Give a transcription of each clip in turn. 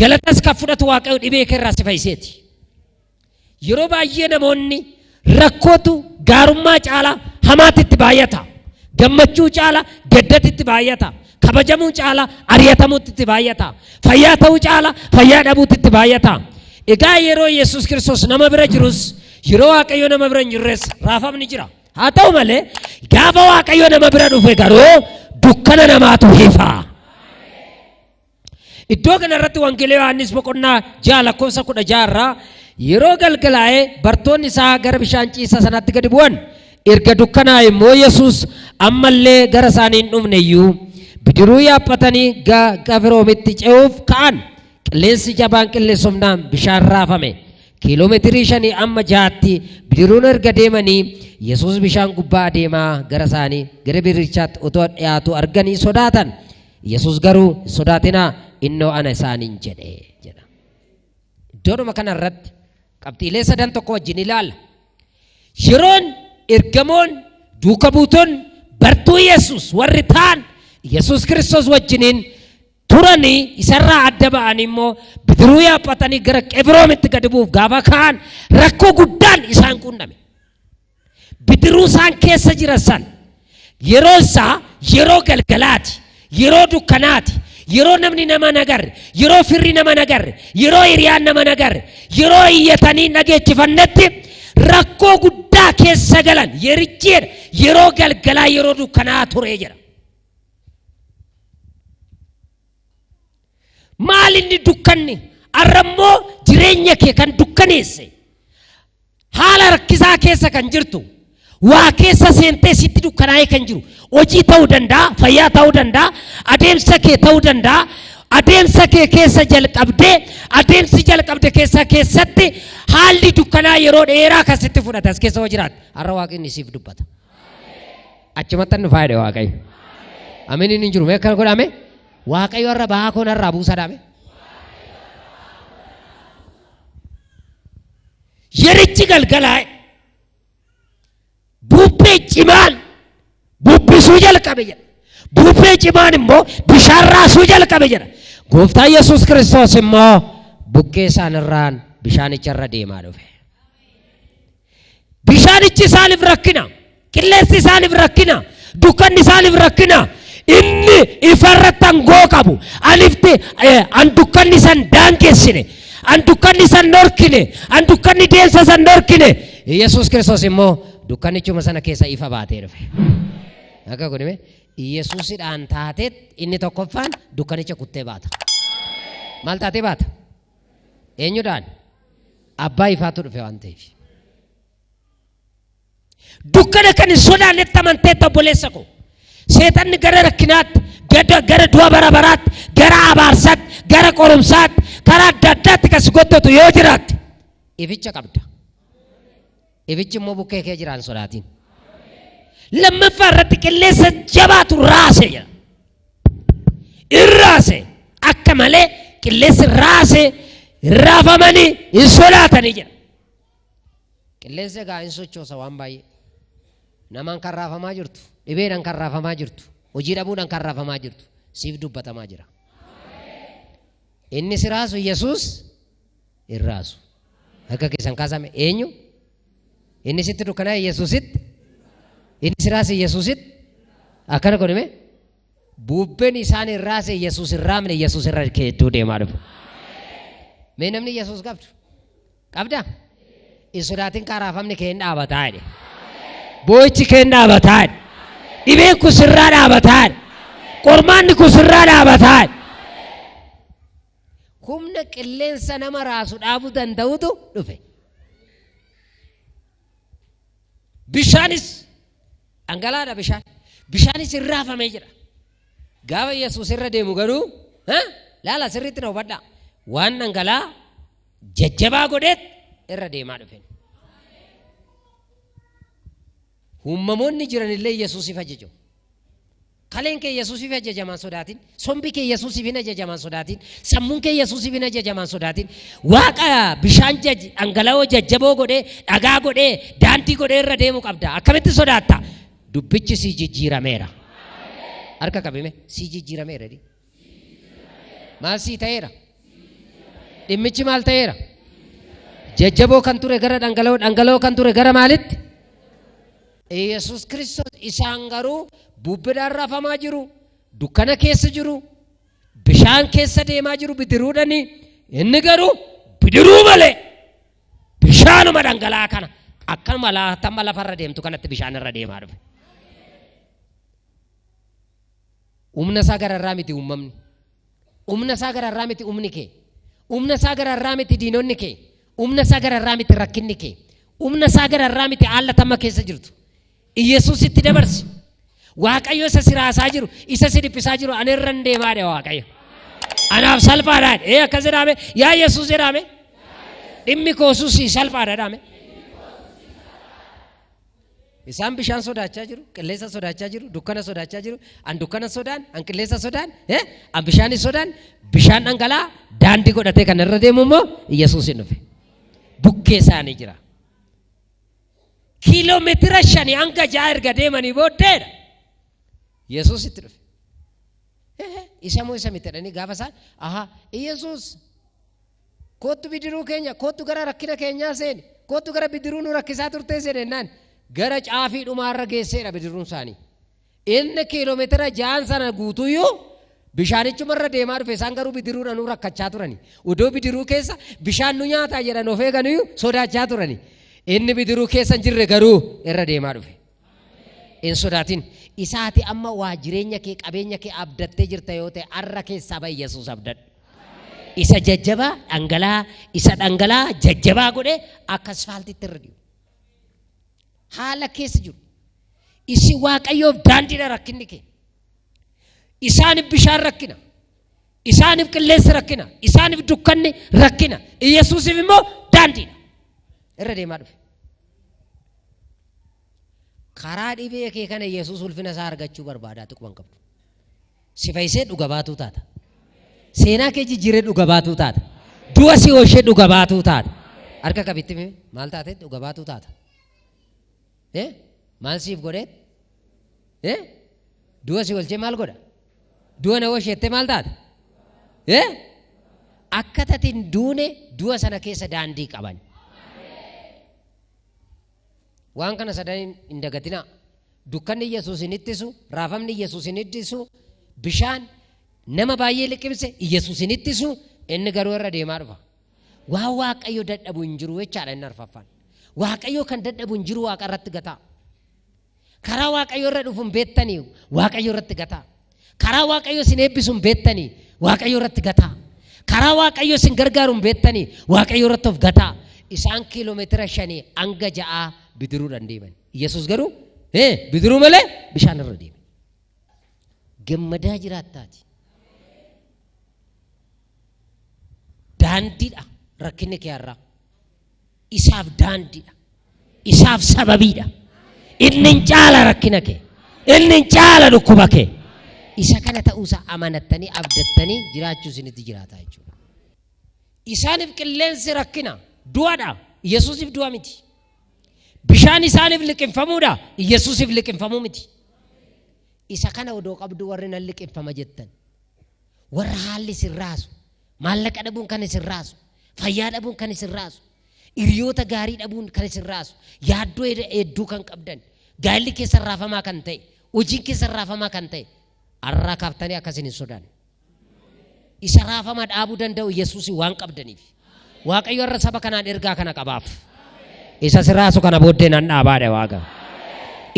Galatas kan fudhatu Waaqayyo dhibee kee irraa si fayyiseeti. Yeroo baay'ee namoonni rakkootu gaarummaa caalaa hamaatti itti baay'ata. Gammachuu caalaa gaddatti itti baay'ata. Kabajamuu caalaa ari'atamuutti itti baay'ata. Fayyaa ta'uu caalaa fayyaa dhabuutti itti baay'ata. Egaa yeroo Yesuus Kiristoos nama bira jirus yeroo Waaqayyo nama bira hin jirres raafamni jira. Haa ta'u malee gaafa Waaqayyo nama bira dhufe garuu dukkana namaatu hifa. Iddoo kana irratti Wangeela Yohaannis boqonnaa ja'a lakkoofsa kudha ja'a irraa yeroo galgalaa'ee bartoonni isaa gara bishaan ciisaa sanaatti gadi bu'an erga dukkanaa'e immoo Yesuus ammallee gara isaanii hin dhufne iyyuu bidiruu yaaphatanii gara Qifiroomitti ce'uuf ka'an qilleensi jabaan qilleensofnaan bishaan raafame kiiloomeetirii shanii amma ja'atti bidiruun erga deemanii Yesuus bishaan gubbaa adeemaa gara isaanii gara bidirichaatti otoo dhiyaatu arganii sodaatan. Yesus garuu hin sodaatinaa innoo ana isaaniin jedhe jedha. Iddoodhuma kana irratti qabxiilee sadan tokko wajjin ilaala. Yeroon ergamoon duuka buuton bartuu Yesus warri ta'an Yesus Kiristoos wajjiniin turanii isarraa adda ba'anii immoo bidiruu yaabbatanii gara Qebroomitti gadi bu'uuf gaafa ka'an rakkoo guddaan isaan quunname. Bidiruu isaan keessa jiran san yeroo isaa yeroo galgalaati, yeroo dukkanaati, yeroo namni nama nagarre, yeroo firri nama nagarre, yeroo hiriyaan nama nagarre, yeroo iyyatanii dhageechifannetti rakkoo guddaa keessa galan yerichi jedha yeroo galgalaa yeroo dukkanaa ture jedha. Maal inni dukkanni? Har'a immoo jireenya kee kan dukkaneesse Haala rakkisaa keessa kan jirtu, waa keessa seentee sitti dukkanaa'ee kan jiru, hojii ta'uu danda'a, fayyaa ta'uu danda'a, adeemsa kee ta'uu danda'a, adeemsa kee keessa jalqabdee, adeemsi jalqabde keessa keessatti haalli dukkanaa yeroo dheeraa kan sitti fudhate as keessa yoo jiraate, har'a waaqni siif dubbata. Achumatti nu faayide waaqayyo. Aminiin hin jiru, mee akkana godhame? Waaqayyo har'a bahaa koo narraa buusadhaame. Yerichi galgalaa'e. Bubbee cimaan bubbisuu jalqabe jedha. Bubbee cimaan immoo bishaan raasuu jalqabe jedha. Gooftaa Yesuus Kiristoos immoo bukkee isaanirraan bishaanicha irra deemaa dhufe. Bishaanichi isaaniif rakkina. Qilleensi isaaniif rakkina, dukkanni isaaniif rakkina. Inni ifa irratti angoo qabu. An ifti, eh, an dukkanni san daangessine. An dukkanni san dhorkine. An dukkanni deemsa san dhorkine. Yesuus Kiristoos immoo dukkannichuma sana keessa ifa baatee dhufe. Akka kun hime Yesuusidhaan taateet inni tokkoffaan dukkanicha kuttee baata. Maal taatee baata? Eenyudhaan? Abbaa ifaatu dhufe waan ta'eef. Dukkana kan hin sodaannetti amanteetta obboleessa koo. Seexanni gara rakkinaatti, gara, gara du'a bara baraatti, gara abaarsaatti, gara qorumsaatti, karaa adda addaatti kan si gottootu yoo jiraatte ificha qabda. Ifichi immoo bukkee kee jira hin sodaatin. Lammaffaa irratti qilleensa jabaatu raase jedha. In raase akka malee qilleensi raase raafamanii hin sodaatanii jedha. Qilleensi egaa in sochoosa waan baay'ee. Namaan kan raafamaa jirtu, dhibeedhaan kan raafamaa jirtu, hojii dhabuudhaan kan raafamaa jirtu siif dubbatamaa jira. Inni si raasu Yesuus hin raasu. Harka keessan kaasame eenyu? Inni sitti dukkanaa'e Yesuusitti? Inni si raase Yesuusitti? Akkana godhame? Bubbeen isaan hin raase Yesuus hin raamne Yesuus irra keedduu deemaa dhufa. Mee namni Yesuus qabdu? Qabda? Hin sodaatin kaa raafamni kee hin dhaabataa jedhe. Boo'ichi kee hin dhaabataa jedhe. Dhibeen kun sirraa dhaabataa jedhe. Qormaanni kun sirraa dhaabataa jedhe. Humna qilleensa nama raasu dhaabuu danda'utu dhufe. Bishaanis dhangalaadha bishaan. Bishaanis hin raafamee jira. Gaafa Yesuus irra deemu garuu ha? laala sirriitti na hubadhaa. Waan dhangalaa jajjabaa godheet irra deemaa dhufen. Uummamoonni jiranillee Yesuusiif ajajamu. Kaleen kee Yesuusiif ajajamaan sodaatin. Sombi kee Yesuusiif hin ajajamaan sodaatin. Sammuun kee Yesuusiif hin ajajamaan sodaatin. Waaqa bishaan jaj- dhangala'oo jajjaboo godhee, dhagaa godhee, daandii godhee irra deemu qabda. Akkamitti sodaatta? Dubbichi sii jijjiirameera. Harka qabime sii jijjiirameera. jedhi. Maal sii ta'eera? Dhimmichi maal ta'eera? Jajjaboo kan ture gara dhangala'oo, dhangala'oo kan ture gara maalitti? Yesus Kiristoos isaan garuu bubbidhaan rafamaa jiru, dukkana keessa jiru, bishaan keessa deemaa jiru bidiruudhani. Inni garuu bidiruu malee bishaanuma dhangala'aa kana akkanuma laatamma lafarra deemtu kanatti bishaan irra deemaa dhufe. Humna isaa gararraa miti uumamni. Humna isaa gararraa miti humni kee. Humna isaa gararraa miti diinonni kee. Humna isaa gararraa miti rakkinni kee. Humna isaa gararraa miti haala tamma keessa jirtu. Iyyasuus itti dabarsi. Waaqayyo isa si raasaa jiru, isa si dhiphisaa jiru ani irra hin deemaadha Waaqayyo. Anaaf salphaadha. Ee akkas jedhaame yaa Yesuus jedhaame. Dhimmi koosuus salphaadha jedhaame. Isaan bishaan sodaachaa jiru, qilleensa sodaachaa jiru, dukkana sodaachaa jiru. An dukkana sodaan, an qilleensa sodaan, eh? an bishaan sodaan, bishaan dhangala'aa daandii godhatee kan irra deemu immoo Yesuus hin dhufe. Bukkee isaanii jira. Kiiloomeetira shanii hanga ja'a erga deemanii booddeedha. Yesuus itti dhufe. Eh, Isa moo isa miti jedhanii gaafa isaan, aha, Yesuus Koottu bidiruu keenya, koottu gara rakkina keenyaa seeni, koottu gara bidiruu nu rakkisaa turtee seeni jennaan gara caafii dhumaarra geesseedha bidiruun isaanii. Inni kiiloomeetira ja'an sana guutuuyyuu bishaanichumarra deemaa dhufe isaan garuu bidiruudhanuu rakkachaa turani. Odoo bidiruu keessa bishaan nu nyaataa jedhan of eeganuyyuu sodaachaa turani. Inni bidiruu keessa hin jirre garuu irra deemaa dhufe. Hin sodaatin. Isa ati amma waa jireenya kee qabeenya kee abdattee jirta yoo ta'e arra keessaa ba'i Yesuus abdadhu. Isa jajjabaa dhangala'aa isa dhangala'aa jajjabaa godhe akka asfaaltitti irra dhi'u. Haala keessa jiru. Isin waaqayyoof daandiidha rakkinni kee. Isaan bishaan rakkina. Isaaniif qilleensi rakkina, isaaniif dukkanni rakkina, Iyyasuusiif immoo daandiidha. Irra deemaa dhufe. Karaa dhibee kee kana Iyyasuus ulfina isaa argachuu barbaadaa xiqquma hin qabdu. Si fayyisee dhuga baatuu taata. Seenaa kee jijjiiree dhuga baatuu taata. Du'a si oolchee dhuga baatuu taata. Harka qabitti maal taate dhuga baatuu taata. Eh? Maal siif godhee? Eh? Du'a si olchee maal godha? Du'a na oolchette maal taate? Eh? Akka tatiin duune du'a sana keessa daandii qaban. Waan kana sadan hin dagatinaa. Dukkanni Yesuus hin ittisu, raafamni Yesuus hin ittisu, bishaan nama baay'ee liqimse Yesuus hin ittisu, inni garuu irra deemaa dhufa. Waan Waaqayyo dadhabu hin jiru jechaadha inni arfaffaan. Waaqayyo kan dadhabu hin jiru waaqa irratti gataa. Karaa Waaqayyo irra dhufu hin beektanii Waaqayyo irratti gataa. Karaa Waaqayyo isin eebbisu hin beektanii Waaqayyo irratti gataa. Karaa Waaqayyo isin gargaaru hin beektanii Waaqayyo irratti of gataa. Isaan kiiloomeetira shanii hanga ja'aa bidiruudhaan deeman. Yesuus garuu "Ee, bidiruu malee bishaan irra deeme. Gammadaa jiraattaati. Daandiidha rakkinni kee har'aa. Isaaf daandiidha. Isaaf sababiidha. Inni hin caala rakkina kee. Inni hin caala dhukkuba kee. Isa kana ta'uusaa amanattanii abdattanii jiraachuu isinitti jiraataa jechuudha. Isaaniif qilleensi rakkina du'adha. Yesuusiif du'a miti. Bishaan isaaniif liqinfamuudha. Yesuusiif liqinfamuu miti. Isa kana odoo qabdu warri nan liqinfama jettan. Warra haalli isin raasu, maallaqa dhabuun kan isin raasu, fayyaa dhabuun kan isin raasu, hiriyoota gaarii dhabuun kan isin raasu, yaaddoo hed- hedduu kan qabdan, gaa'elli keessan raafamaa kan ta'e, hojiin keessan raafamaa kan ta'e, har'aa kaaftanii akka isin hin sodaanne. Isa raafama dhaabuu danda'u Yesuusiin waan qabdaniif. Waaqayyo irra saba kanaan ergaa kana qabaaf. Isa siraasu kana booddee nan dhaabaadha waaqa.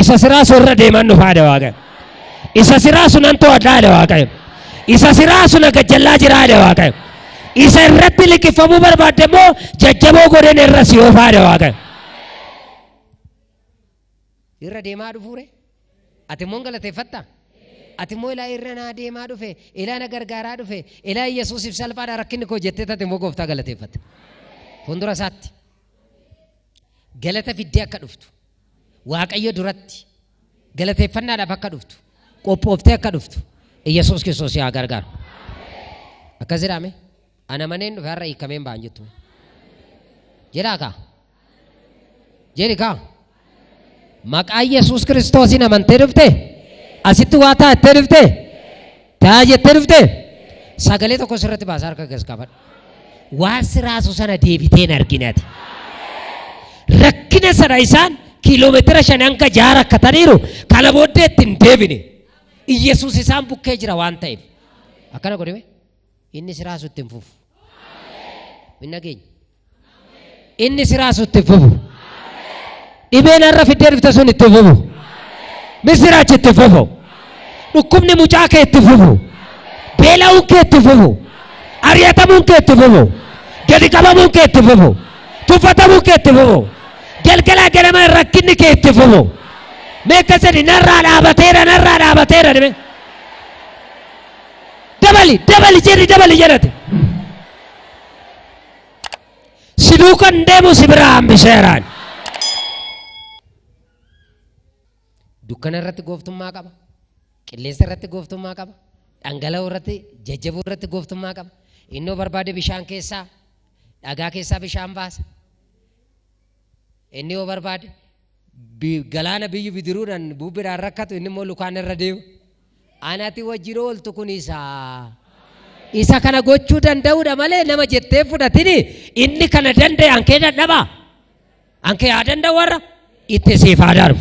Isa siraasu irra deeman dhufaadha waaqa. Isa siraasu nan to'adhaadha waaqa. Isa siraasu na gajjallaa jiraadha waaqa. Isa irratti liqifamuu barbaadde immoo jajjaboo godheen irra si oofaadha waaqa. Irra deemaa dhufuure? Ati immoo hin galateeffatta? Ati immoo ilaa irra naa deemaa dhufe, ilaa na gargaaraa dhufe, ilaa Yesuusiif salphaadha rakkinni koo jettee ati immoo gooftaa galateeffatta. Fuuldura isaatti galata fiddee akka dhuftu, Waaqayyo duratti galateeffannaadhaaf akka dhuftu, qophooftee akka dhuftu, Yesuus Kiristoos si haa gargaaru. Akkas jedhame, ana maneen dhufe har'a hiikameen ba'an jettu. Jedhaa kaa, Jedhi kaa. Maqaa Yesuus Kiristoosiin amantee dhufte? Asitti waa ta'a jettee dhufte? Ta'a jettee dhufte? Sagalee tokko sirratti baasa harka gas qabadhu. Waan siraasu sana deebitee hin arginati. Rakkina sana isaan kiiloomeetira shan hanga jaha rakkataniiru kana booddee itti hin deebine. Iyyasuus isaan bukkee jira waan ta'eef. Akkana godhime inni siraasu itti hin fufu. Hin dhageenye. Inni si raasu itti fufu. Dhibeen har'a fiddee dhufte sun itti fufu. Misiraachi itti fufu. Dhukkubni mucaa kee itti fufu. Beela'uun kee itti fufu. Ari'atamuun kee itti fufu. Gadi qabamuun kee itti fufu. Tuffatamuun kee itti fufu. Galgalaa ganama rakkinni kee itti fufu. Mee akka sadi narraa dhaabateera narraa dhaabateera dhibee. Dabali dabali jedhi dabali jedhate. si duuka hin deemu si biraa hambiseeraan. Dukkana irratti gooftummaa qaba. Qilleensa irratti gooftummaa qaba. Dhangala'oo irratti jajjaboo irratti gooftummaa qaba. Innoo barbaade bishaan keessaa dhagaa keessaa bishaan baasa. Inni yoo barbaade bi- galaana biyyu bidiruudhaan bubbidhaan rakkatu inni immoo lukaan irra deema. Anati wajjin ooltu kun isa. Isa kana gochuu danda'uudha malee nama jettee fudhatini inni kana danda'e ankee dadhaba. Ankee haa danda'u warra itti siif haa darbu.